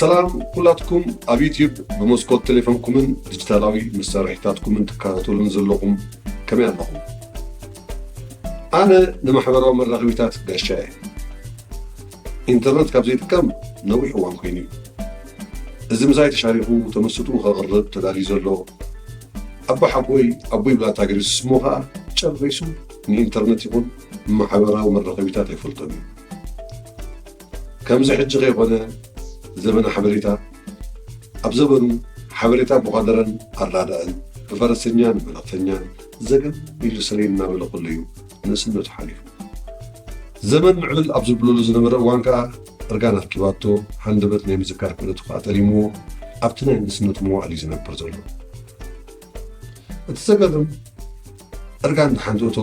ሰላም ኩላትኩም ኣብ ዩትዩብ ብመስኮት ቴሌፎንኩምን ዲጂታላዊ መሳርሒታትኩምን ትከታተሉን ዘለኹም ከመይ ኣለኹም ኣነ ንማሕበራዊ መራኸቢታት ጋሻ እየ ኢንተርነት ካብ ዘይጥቀም ነዊሕ እዋን ኮይኑ እዩ እዚ ምሳይ ተሻሪኹ ተመሱጥኡ ከቕርብ ተዳልዩ ዘሎ ኣቦሓጎይ ኣቦይ ብላታ ገሪሱ ስሙ ከኣ ጨሪሱ ንኢንተርነት ይኹን ንማሕበራዊ መራኸቢታት ኣይፈልጦን እዩ። ከምዚ ሕጂ ከይኮነ ዘበነ ሓበሬታ ኣብ ዘበኑ ሓበሬታ ብዃደረን ኣራዳእን ብፈረሰኛን መለኽተኛን ዘገም ኢሉ ስረይ እናበለ ከሎ እዩ ንእስነቱ ሓሊፉ ዘመን ምዕብል ኣብ ዝብለሉ ዝነበረ እዋን ከኣ እርጋን ኣርኪባቶ ሃንደበት ናይ ምዝካር ክእለቱ ከኣ ጠሊምዎ ኣብቲ ናይ ንእስነቱ መዋእል እዩ ዝነብር ዘሎ እቲ ዘገርም እርጋን ብሓንቲ እቶ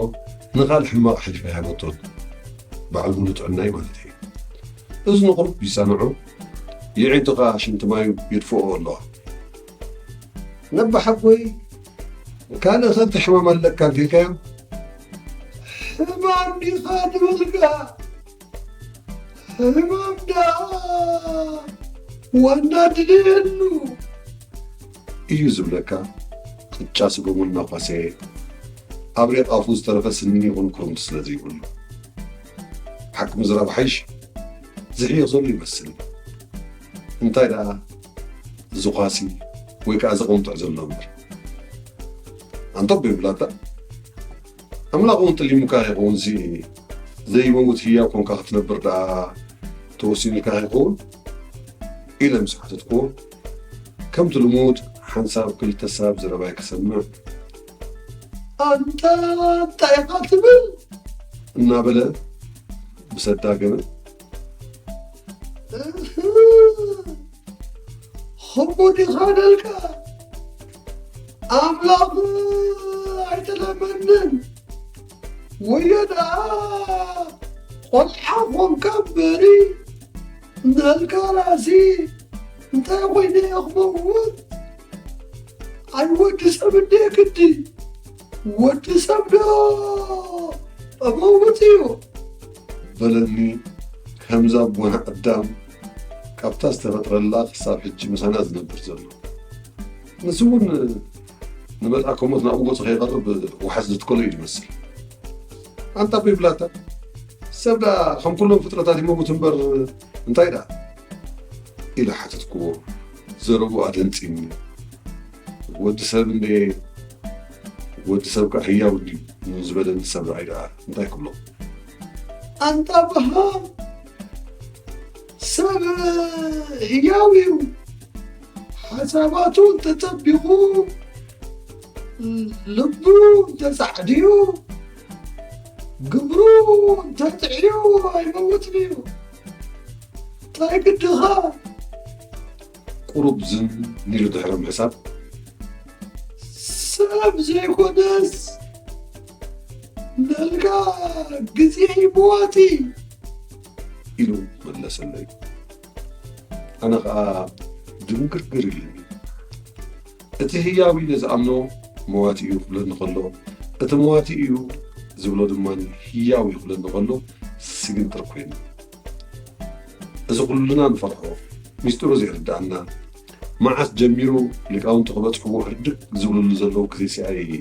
ንኻል ሕማቕ ሕልፊ ኣይሃበቶን በዓል ሙሉ ጥዕናይ ማለት እዩ እዝኑ ቁርብ ይሰምዑ የዒንቱ ከኣ ሽንቲ ማዩ ይድፍኦ ኣለዋ ነባሓጎይ ካልእ ከብቲ ሕማም ኣለካ እንተልካዮ ሕማም ዲኻ ንብልካ ሕማም ደኣ ዋና ድልየሉ እዩ ዝብለካ ቅጫ ስጎሙ እናኳሰየ ኣብ ሬቕ ኣፉ ዝተረፈ ስኒን ይኹን ኩርምቲ ስለ ዘይብሉ ሓቂ ምዝራብ ሓይሽ ዝሕዮ ዘሎ ይመስል እንታይ ደኣ ዝዃሲ ወይ ከኣ ዝቕንጥዕ ዘሎ እምበር ኣንቶብ ይብላታ ኣምላኽ እውን ጥሊሙካ ይኸውን እዚ ዘይመውት ህያው ኮንካ ክትነብር ደኣ ተወሲኑልካ ይኸውን ኢለ ምስ ሓተትክዎ ከምቲ ልሙድ ሓንሳብ ክልተ ሳብ ዘረባይ ክሰምዕ ኣንታ እንታይ ኢኻ ትብል እናበለ ብሰዳገመ ህቡድ ኢኻ ደልካ ኣምላኽ ኣይተለመንን ወዮ ደኣ ቆልዓ ኾንካ በሪ ንልካ ራሲ እንታይ ኮይነ እየ ክመውት ኣይወዲ ሰብ እንዴ ግዲ ወዲ ሰብ ዶ ጠመውት እዩ በለኒ ከምዛ ኣቦና ኣዳም ካብታ ዝተፈጥረላ ክሳብ ሕጂ ምሳና ዝነብር ዘሎ ንሱ እውን ንመልኣከ ሞት ናብኡ ገፁ ከይቐርብ ዋሕስ ዝትከሎ እዩ ዝመስል ኣንታ ኣቦይ ብላታ ሰብ ደኣ ከም ኩሎም ፍጥረታት ይመውት እምበር እንታይ ደኣ ኢለ ሓተትክዎ ዘረብኡ ኣደንጺኒ ወዲ ሰብ እንድየ ወዲ ሰብ ከ ሕያው ድዩ ንዝበለኒ ሰብ ረኣይ ደኣ እንታይ ክብሎ ኣንታ ብሃም ሰብ ህያው እዩ ሓሳባቱ እንተጸቢቑ ልቡ እንተጻዕድዩ ግብሩ እንተጥዕዩ ኣይመውትን እዩ ታይ ግድኻ ቁሩብ ዝም ኒሉ ድሕሪ ምሕሳብ ሰብ ዘይኮነስ ነልካ ግዜ ይመዋቲ ኢሉ መለሰለይ ኣነ ከዓ ድንግርግር ኢሉኒ እቲ ህያው ኢሉ ዝኣምኖ መዋቲ እዩ ክብለኒ ከሎ፣ እቲ መዋቲ እዩ ዝብሎ ድማ ህያው እዩ ክብለኒ ከሎ ስግንጥር ኮይና። እዚ ኩልና ንፈርሖ ሚስጢሩ ዘይርድኣና መዓስ ጀሚሩ ሊቃውንቲ ክበጽሕዎ ህርድግ ዝብልሉ ዘለዉ ግዜ ሲኣየ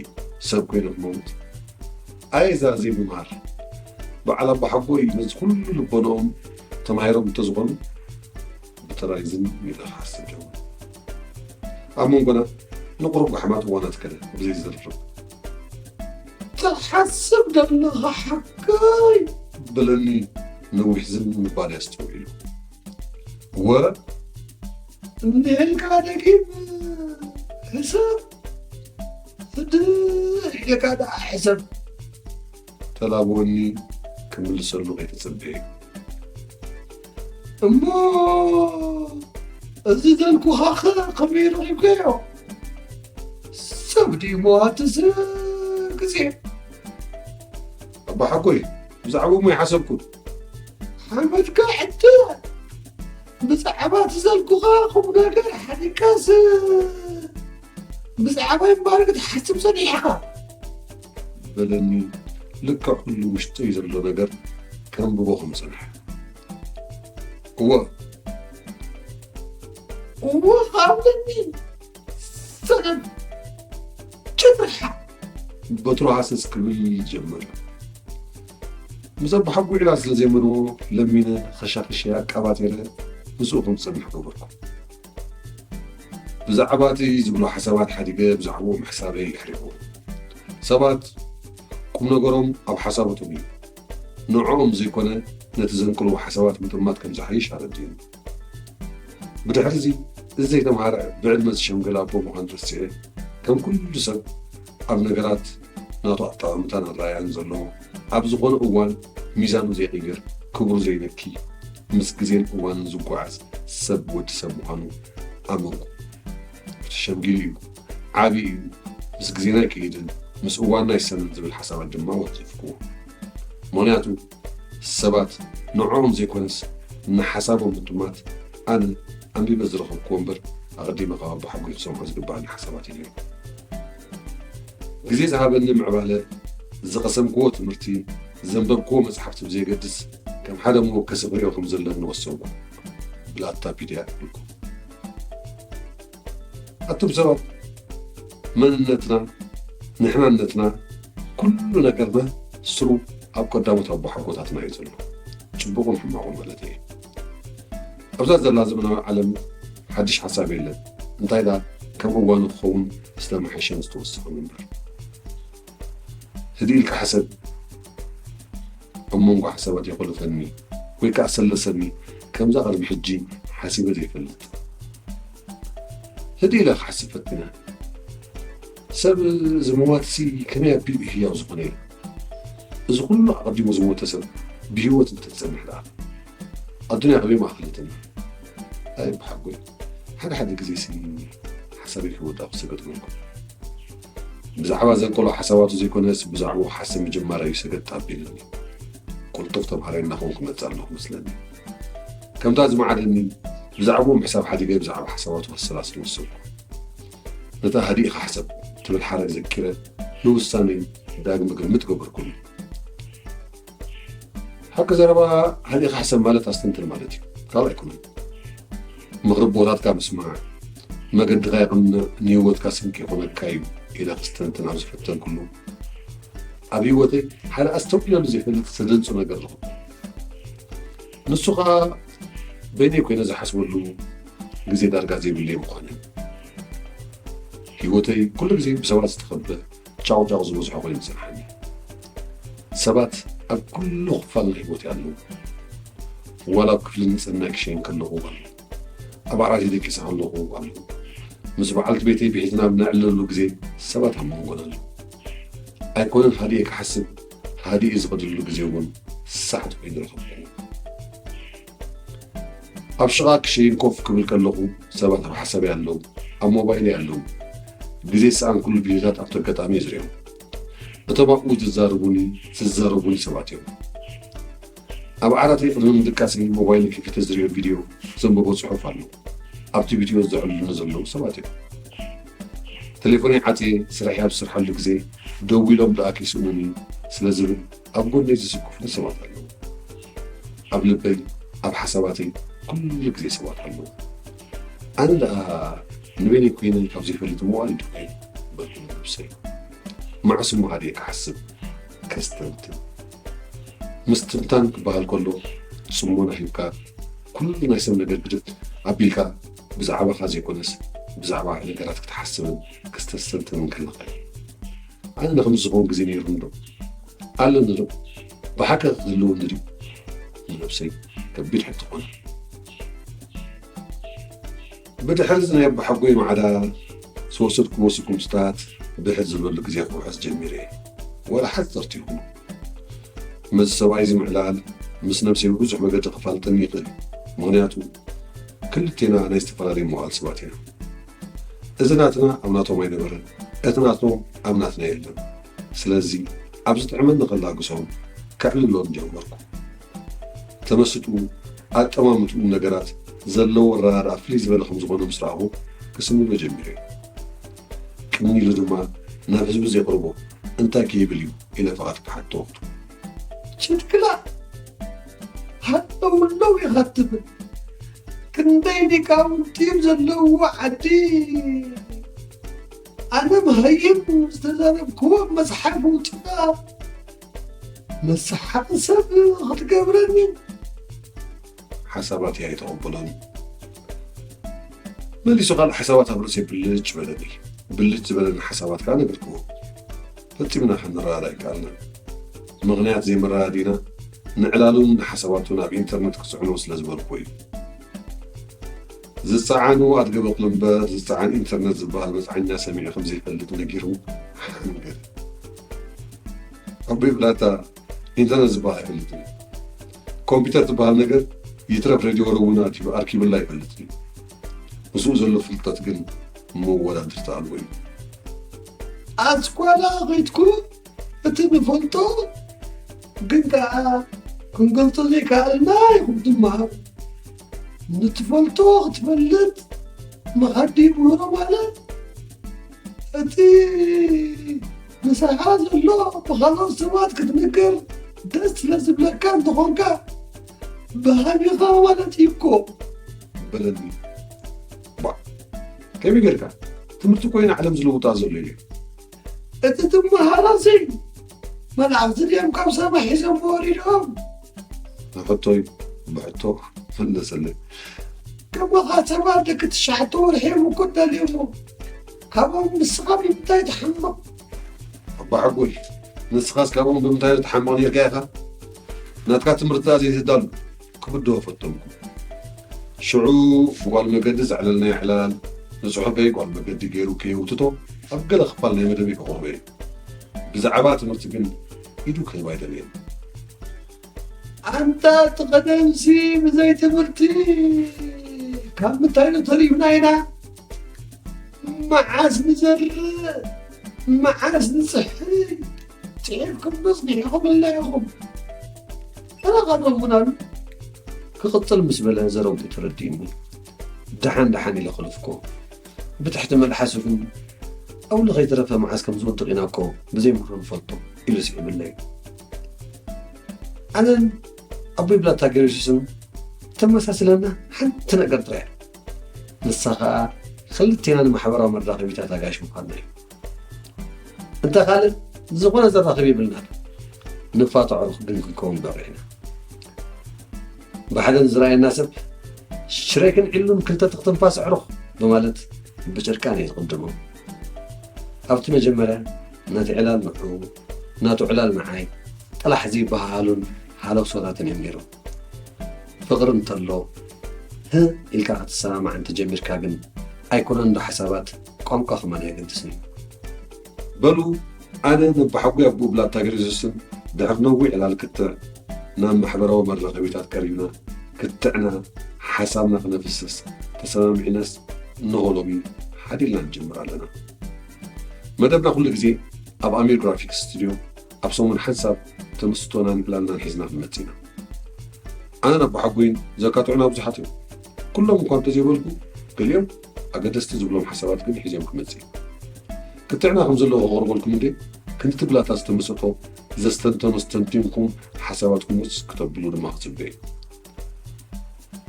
ሰብ ኮይኑ ክመውት ኣየ እዛ ዘይምምሃር በዓል ኣቦሓጎይ ነዚ ኩሉ ልቦናኦም ተማሂሮም እንተዝኾኑ ብተራይዝን ሜዳ ክሓስብ ጀመረ። ኣብ መንጎና ንቑሩብ ጓሕማት እዋናት ከደ ብዘይ ዝርርብ። ትሓስብ ደለኻ ሓካይ በለኒ ነዊሕ ዝም ምባል ኣስተውዒሉ። ወ እንዲህልካ ደጊም ሕሰብ ድሕ ኢልካ ደኣ ሕሰብ ተላብወኒ ክምልሰሉ ከይተጸበየ እሞ እዚ ዘልኩኻ ኸ ከመይ ረኺብካዮ ሰብ ድዩ መዋቲ ግዜ ኣባሓጎይ ብዛዕባ እሞ ይሓሰብኩ ሓመድካ ሕተ ብዛዕባ ትዘልኩኻ ኹም ነገር ሓዲካስ ብዛዕባ ይምባረክ ትሓስብ ሰኒሕኻ በለኒ ልክዕ ኩሉ ውሽጠይ ዘሎ ነገር ከንብቦ ከም ዝጸንሐ እወ እወ ሃብኒ ሰላም ጭርሓ በትሩ ሃሰስ ክብል ጀመረ ምስ ኣባሓጒዕላ ስለ ዘይመርዎ ለሚነ ኸሻኽሸ ኣቃባጢረ ምስኡ ከም ዝጸንሕ ገበርኩ ብዛዕባ እቲ ዝብሎ ሓሳባት ሓዲገ ብዛዕብኡ ምሕሳበይ ኣሕሪቑ። ሰባት ቁም ነገሮም ኣብ ሓሳባቶም እዩ። ንዕኦም ዘይኮነ ነቲ ዘንቅልዎ ሓሳባት ምጥማት ከም ዝሓይሽ ኣረዲኡኒ። ብድሕሪዚ እዚ ዘይተምሃረ ብዕድመ ዝሸምገለ ኣቦ ምዃኑ ረሲዐ ከም ኩሉ ሰብ ኣብ ነገራት ናቱ ኣጠማምታን ኣረኣእያን ዘለዎ፣ ኣብ ዝኾነ እዋን ሚዛኑ ዘይቕይር፣ ክብሩ ዘይነኪ፣ ምስ ግዜን እዋንን ዝጓዓዝ ሰብ ወዲ ሰብ ምዃኑ ኣመንኩ። ሸምጊሉ እዩ፣ ዓብዩ እዩ፣ ምስ ግዜና ኣይከይድን፣ ምስ እዋንና ኣይሰንን ዝብል ሓሳባት ድማ ወንጨፍኩዎ። ምኽንያቱ ሰባት ንዕኦም ዘይኮነስ ንሓሳቦም ምጥማት ኣነ ኣንቢበ ዝረኸብክዎ እምበር ኣቐዲመ ካብ ኣቦሓጎይ ክሰምዖ ዝግብኣኒ ሓሳባት እዩ ነይሩ። ግዜ ዝሃበኒ ምዕባለ፣ ዝቐሰምክዎ ትምህርቲ፣ ዘንበብክዎ መጽሓፍቲ ብዘየገድስ ከም ሓደ መወከሲ ክሪኦ ከም ዘለኒ ወሰንኩ። ብላታ ፒድያ። ኣቱም ሰባት መንነትና ንሕናነትና ኩሉ ነገርና ስሩ ኣብ ቀዳሞት ኣቦሓጎታትና እዩ ዘሎ ፅቡቁን ሕማቁን ማለት እየ ኣብዛ ዘላ ዘመናዊ ዓለም ሓድሽ ሓሳብ የለን እንታይ ዳ ከም እዋኑ ክኸውን ዝተመሓሸን ዝተወሰኸን እምበር ህድእ ኢልካ ሕሰብ፣ ኣብ መንጎ ሓሳባት የቑልፈኒ ወይ ከዓ ሰለሰኒ ከምዛ ቅድሚ ሕጂ ሓሲበ ዘይፈልጥ። ህድእ ኢለ ክሓስብ ፈቲነ። ሰብ ዝመዋትሲ ከመይ ኣቢሉ እዩ ህያው ዝኾነ ኢለ። እዚ ኩሉ ኣቐዲሙ ዝሞተ ሰብ ብህይወት እንተዝፀንሕ ደኣ ኣዱንያ ከመይ ማእኸለትን ኣይ ብሓጎይ ሓደ ሓደ ግዜ ሲ ሓሳበይ ክወዳእ ክሰገጥ መልኩ ብዛዕባ ዘንቀሎ ሓሳባቱ ዘይኮነስ ብዛዕባኡ ሓሰብ ምጅማር እዩ ሰገጥ ኣቢልኒ ቁልጡፍ ተምሃራይ እናኸውን ክመፅእ ኣለኹ መስለኒ ከምታ ዝመዓደኒ ብዛዕባኡ ምሕሳብ ሓዲገ ብዛዕባ ሓሳባቱ ከሰላስል ወሰንኩ ነታ ሃዲእኻ ሓሰብ ትብል ሓረግ ዘኪረ ንውሳነይ ዳግመ ግምት ገበርኩሉ ሓቂ ዘረባ ሓሊኻ ሕሰብ ማለት ኣስተንትን ማለት እዩ ካልእ ኣይኮነን። ምኽሪ ኣቦታትካ ምስማዕ መገድኻ የቕንዕ ንህይወትካ ስንቂ ይኾነካ እዩ ኢለ ክስተንትን ኣብ ዝፈተንኩሉ ኣብ ህይወተይ ሓደ ኣስተውዒለሉ ዘይፈልጥ ዘደንጹ ነገር ኣለኹ። ንሱ ከዓ በይነይ ኮይነ ዝሓስበሉ ግዜ ዳርጋ ዘይብለይ ምዃነ ህይወተይ ኩሉ ግዜ ብሰባት ዝተኸበ ጫቑጫቑ ዝበዝሖ ኮይኑ ይስምዓኒ። ሰባት ኣብ ኩሉ ክፋል ህይወት ያለው ዋላ ኣብ ክፍሊ ንጽህና ክሸይን ከለኹ ኣሎ ኣብ ዓራተይ ደቂሰ ከለኹ ኣሎ ምስ በዓልቲ ቤተይ ብሒትና ኣብ ነዕልለሉ ግዜ ሰባት ኣብ መንጎና ኣለዉ ኣይኮነን ሃዲኤ ክሓስብ ሃዲኤ ዝኸድሉ ግዜ እውን ሳሕት ኮይኑ ረኸብኩ ኣብ ሽቓ ክሽይን ኮፍ ክብል ከለኹ ሰባት ኣብ ሓሳበይ ኣለዉ፣ ኣብ ሞባይለይ ኣለዉ። ግዜ ዝሰኣንኩሉ ግዜታት ኣብቲ ኣጋጣሚ እየ ዝርእዮም። እቶም ኣብኡ ዝዛረቡኒ ዝዛረቡኒ ሰባት እዮም። ኣብ ዓራተይ ቅድሚ ምድቃሰይ ሞባይለይ ከፊተ ዝርእዮ ቪድዮ፣ ዘንብቦ ጽሑፍ ኣሎ። ኣብቲ ቪድዮ ዘዕልሉኒ ዘለዉ ሰባት እዮም። ቴሌፎነይ ዓጽየ ስርሐይ ኣብ ዝሰርሓሉ ግዜ ደዊሎም ደኣ ከይስእኑኒ ስለ ዝብል ኣብ ጎነይ ዝስክፉኒ ሰባት ኣለዉ። ኣብ ልበይ ኣብ ሓሳባተይ ኩሉ ግዜ ሰባት ኣለዉ። ኣነ ደኣ ንበይነይ ኮይነ ካብ ዘይፈልጥ መዋእል ድዩ ኮይነ በልኩ ንነብሰይ። መዓስ እሞ ሃዲኤ ክሓስብ ከስተንትን። ምስትንታን ክበሃል ከሎ ጽሞና ሂብካ ኩሉ ናይ ሰብ ነገር ግድድ ኣቢልካ ብዛዕባኻ ዘይኮነስ ብዛዕባ ነገራት ክትሓስብን ክስተስተንትንን ከለኻ እዩ። ኣንዳ ከምዚ ዝኸውን ግዜ ነይሩኒ ዶ ኣለኒ ዶ ብሓቂ ክህልወኒ ድዩ ንነብሰይ ከቢድ ሕቶ ኮነ ብድሕሪ እዚ ናይ ኣቦሓጎይ ማዕዳ ዝወሰድኩዎ ስጉምትታት ብሕት ዝበሉ ግዜ ክውሕስ ጀሚረ እየ ወላ ሓፀርቲ ይኹኑ መዚ ሰብኣይ እዚ ምዕላል ምስ ነብሰይ ብብዙሕ መገዲ ክፋልጠኒ ይኽእል ምክንያቱ ክልቴና ናይ ዝተፈላለዩ መዋእል ሰባት ኢና እዚ ናትና ኣብ ናቶም ኣይነበረን እቲ ናቶም ኣብ ናትና የለን ስለዚ ኣብ ዝጥዕመኒ ከላግሶም ከዕልሎን ጀመርኩ ተመስጥኡ ኣጠማምትኡን ነገራት ዘለዎ ኣረዳድኣ ፍልይ ዝበለ ከም ዝኾነ ምስ ረኣኹ ክስምሞ ጀሚረ ቅንይ ኢሉ ድማ ናብ ህዝቢ ዜቕርቦ እንታይ ከይብል እዩ ኢለ ፍቓድ ክሓቶ ጭድክላ ሃጠውለው ኢኻ ትብል ክንደይ ሊቃውንቲ ዘለውዎ ዓዲ ኣነ መሃይም ዝተዛረብክዎ መፅሓፍ ውፅና መሰሓቂ ሰብ ክትገብረኒ ሓሳባት እያ የተቐበሎኒ መሊሱ ካልእ ሓሳባት ኣብ ርእሰይ ብልጭ በለኒ ብልጭ ዝበለኒ ሓሳባት ከዓ ነገርክዎ ፈጺምና ክንረኣድ ኣይከኣልናን። ምኽንያት ዘይምርኣድና ንዕላሉን ንሓሳባቱን ኣብ ኢንተርነት ክጽዕኖ ስለ ዝበልኩዎ እዩ። ዝጸዓኑ ኣድገ በቕሉ እምበር ዝጸዓን ኢንተርነት ዝበሃል መጽዓኛ ሰሚዑ ከም ዘይፈልጥ ነጊሩ ሓንገደ። ኣቦይ ብላታ ኢንተርነት ዝበሃል ኣይፈልጥን እየ ኮምፒተር ትበሃል ነገር ይትረፍ ሬድዮ ወረ እውን ኣቲቡ ኣርኪብላ ኣይፈልጥን እዩ ምስኡ ዘሎ ፍልጠት ግን መወዳድርቲ ኣልቦ እዩ ኣስኳላ ኸይትኩ እቲ ንፈልጦ ግን ከዓ ክንገልፆ ዘይከኣልና ይኹም ድማ ንትፈልጦ ክትፈልጥ መኸዲ ምህሮ ማለት እቲ ምሳኻ ዘሎ ብኻልኦት ሰባት ክትምገብ ደስ ስለ ዝብለካ እንተኾንካ ብሃጊኻ ማለት እዩ እኮ በለኒ ባ ከመይ ጌርካ ትምህርቲ ኮይነ ዓለም ዝልውጣ ዘሎ እዩ እቲ ትመሃሮ ዘይ መላእኽቲ ድዮም ካብ ሰማይ ሒዞም ወሪዶም ንሕቶይ ብሕቶ መለሰለይ ከማኻ ሰባት ደቂ ትሽዓተ ወርሒ እዮም እኮ ደልዮሞ ካብኦም ንስኻ ብምንታይ ትሓምቕ ኣባሓጎይ ንስኻስ ካብኦም ብምንታይ ዶ ትሓምቕ ነርካ ኢኻ ናትካ ትምህርትታ ዘይትዳሉ ክብድሆ ፈተንኩ ሽዑ ብጓል መገዲ ዘዕለልናዮ ዕላል ንፅሑፈይ ጓል መገዲ ገይሩ ከየውትቶ ኣብ ገለ ክፋል ናይ መደበይ ከቕርቦ እየ ብዛዕባ ትምህርቲ ግን ኢዱ ክህብ ኣይደለየን። ኣንታ እቲ ቀደምሲ ብዘይ ትምህርቲ ካብ ምንታይኑ ተሪፍና ኢና መዓስ ንዘርእ መዓስ ንፅሕፍ ፅሒፍኩም መፅኒሕኹም ኣለ ኢኹም ተረኸበሙናሉ ክቕፅል ምስ በለ ዘረብኡ ተረዲእኒ ደሓን ደሓን ኢለ ክልፍኮ ብትሕቲ መልሓሱ ግን ጸውሊ ከይተረፈ መዓስ ከም ዝወድቕ ኢና እኮ ብዘይምኽሩ ንፈልጦ ኢሉ ስዒቡለይ። ኣነን ኣቦይ ብላታ ገርዩሱስን ተመሳስለና ሓንቲ ነገር ጥራይ እያ፣ ንሳ ከኣ ክልቴና ንማሕበራዊ መራኸቢታት ኣጋይሽ ምዃንና እዩ። እንተ ካልእ ዝኾነ ዘራኽብ ይብልና ንፋታዖ ግን ክንከውን በረ ኢና ብሓደን ዝረኣየና ሰብ ሽሬክን ዒሉን ክልተ ትኽትንፋስ ዕሩኽ ብማለት ብጭርቃን እዩ ዝቕድሞ ኣብቲ መጀመርያ ነቲ ዕላል ንዑ ናቱ ዕላል ንዓይ ጥራሕ ዘይበሃሃሉን ሃለኽሶታትን እዮም ነይሮም ፍቕሪ እንተሎ ህእ ኢልካ ክትሰማማዕ እንተጀሚርካ ግን ኣይኮነን ዶ ሓሳባት ቋንቋ ከማን ኣየገድስን እዩ። በሉ ኣነ ነባሓጉይ ኣቦ ብላታ ግሪዝስን ድሕሪ ነዊሕ ዕላል ክትዕ ናብ ማሕበራዊ መራኸቢታት ቀሪብና ክትዕና ሓሳብና ክነፍስስ ተሰማሚዕናስ እነሆ ሎሚ ሓዲልና ንጅምር ኣለና። መደብና ኩሉ ግዜ ኣብ ኣሚር ግራፊክስ ስቱድዮ ኣብ ሰሙን ሓንሳብ ተመስጦናን ዕላልናን ሒዝና ክንመጽእ ኢና። ኣነን ኣቦሓጎይን ዘካትዑና ብዙሓት እዮም። ኩሎም እኳ እንተዘይበልኩ፣ ገሊኦም ኣገደስቲ ዝብሎም ሓሳባት ግን ሒዘዮም ክመጽእ እየ። ክትዕና ከም ዘለዎ ከቕርበልኩም እንድየ። ክንዲ ትብላታ ዝተመሰጦ ዘስተንተኖ ኣስተንቲንኩም ሓሳባትኩም ውስ ክተብሉ ድማ ክጽበ እየ።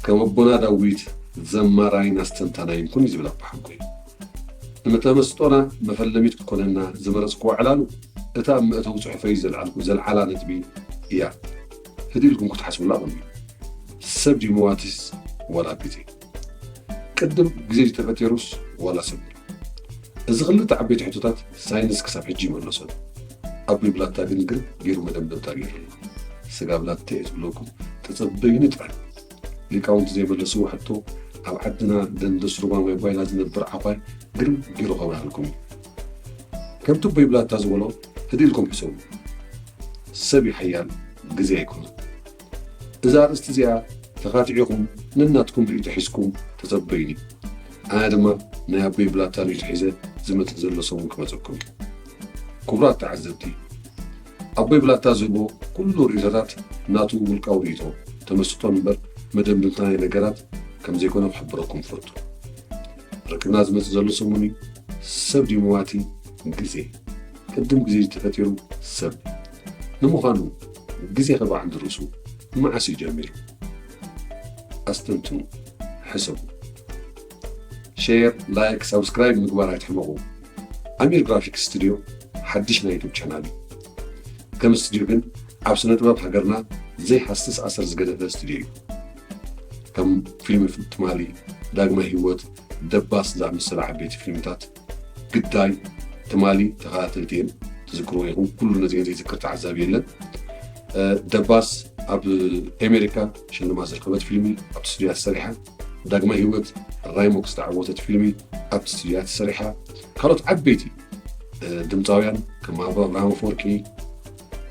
ከም ኣቦና ዳዊት ዘማራይን ኣስተንታናይን ኩን እዩ ዝብል ኣቦሓጎይ። ንተመስጦና መፈለሚት ክትኮነና ዝመረጽኩዋ ዕላሉ እታ ኣብ መእተዊ ጽሑፈይ ዘልዓልኩ ዘልዓላ ነጥቢ እያ። ህድእ ኢልኩም ክትሓስቡላ ቀንዩ። ሰብ ድዩ መዋቲስ ዋላ ቢጺ? ቅድም ግዜ ዝተፈቴሩስ ዋላ ሰብ እዚ ክልተ ዓበይቲ ሕቶታት ሳይንስ ክሳብ ሕጂ ይመለሶ ኣቢ ብላታ ግን ግን ገይሩ መደምደምታ ገይሩሉ ስጋ ብላታ እዩ ዝብለኩም ተጸበዩ ንጥራይ ሊቃውንቲ ዘይመለስዎ ሕቶ ኣብ ዓድና ደንደስ ሩባ ማይ ጓይላ ዝነብር ዓኳይ ግርም ገይሩ ከብርሃልኩም እዩ ከምቲ ኣቦይ ብላታ ዝበሎ ህድኢልኩም ሕሰቡ ሰብ ይሓያል ግዜ ኣይኮነን እዛ ኣርእስቲ እዚኣ ተካቲዕኹም ነናትኩም ሪኢቶ ሒዝኩም ተጸበዩኒ ኣነ ድማ ናይ ኣቦይ ብላታ ሪኢቶ ሒዘ ዝመጽእ ዘሎ ሰሙን ክመጸኩም እዩ ክቡራት ተዓዘብቲ ኣቦይ ብላታ ዝህቦ ኩሉ ሪኢቶታት ናቱ ውልቃዊ ሪኢቶ ተመስጦን እምበር መደምድምታ ናይ ነገራት ከም ዘይኮነ ክሕብረኩም ፈቱ ርክብና ዝመጽእ ዘሎ ሰሙን እዩ ሰብ ዲሞዋቲ ግዜ ቅድም ግዜ ተፈጢሩ ሰብ ንምዃኑ ግዜ ከበዓል ድርሱ መዓስ እዩ ጀሚሩ? ኣስተንትኑ ሕሰቡ። ሼር ላይክ ሳብስክራይብ ምግባር ኣይትሕመቑ። ኣሚር ግራፊክስ ስቱድዮ ሓድሽ ናይ ዩቱብ ቻናል እዩ። ከም ስቱድዮ ግን ኣብ ስነ ጥበብ ሃገርና ዘይሃስስ ኣሰር ዝገደፈ ስቱድዮ እዩ። ከም ፊልሚ ትማሊ፣ ዳግመ ህይወት፣ ደባስ ዝኣመሰላ ዓበይቲ ፊልምታት ግዳይ ትማሊ ተኸታተልቲ እየን ትዝክርዎ ኢኹም ኩሉ ነዚአን ዘይዝክር ተዓዛቢ የለን ደባስ ኣብ ኣሜሪካ ሽልማት ዝረኸበት ፊልሚ ኣብ ስቱድያ ተሰሪሓ ዳግማይ ህይወት ራይሞክስ ዝተዓወተት ፊልሚ ኣብ ስቱድያ ተሰሪሓ ካልኦት ዓበይቲ ድምፃውያን ከም ኣባ ኣብርሃም ኣፈወርቂ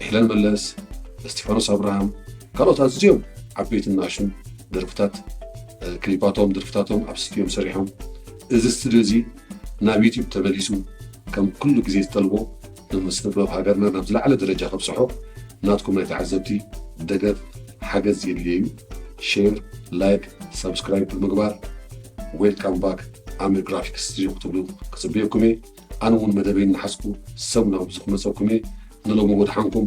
ሄለን መለስ እስጢፋኖስ ኣብርሃም ካልኦት ኣዝዮም ዓበይትን ናእሹን ደርፍታት ክሊፓቶም ደርፍታቶም ኣብ ስቱድዮም ሰሪሖም እዚ ስትድዮ እዚ ናብ ዩቱብ ተመሊሱ ከም ኩሉ ግዜ ዝጠልቦ ን ስነ ጥበብ ሃገርና ናብ ዝለዓለ ደረጃ ከብጽሖ ናትኩም ናይ ተዓዘብቲ ደገፍ ሓገዝ የድልዮ እዩ ሼር ላይክ ሳብስክራይብ ብምግባር ዌልካም ባክ ኣምር ግራፊክስ ስትድዮ ክትብሉ ክጽበየኩም እየ ኣነ እውን መደበይ እናሓዝኩ ሰሙናዊ እዚ ክመጸኩም እየ ንሎሚ ወድሓንኩም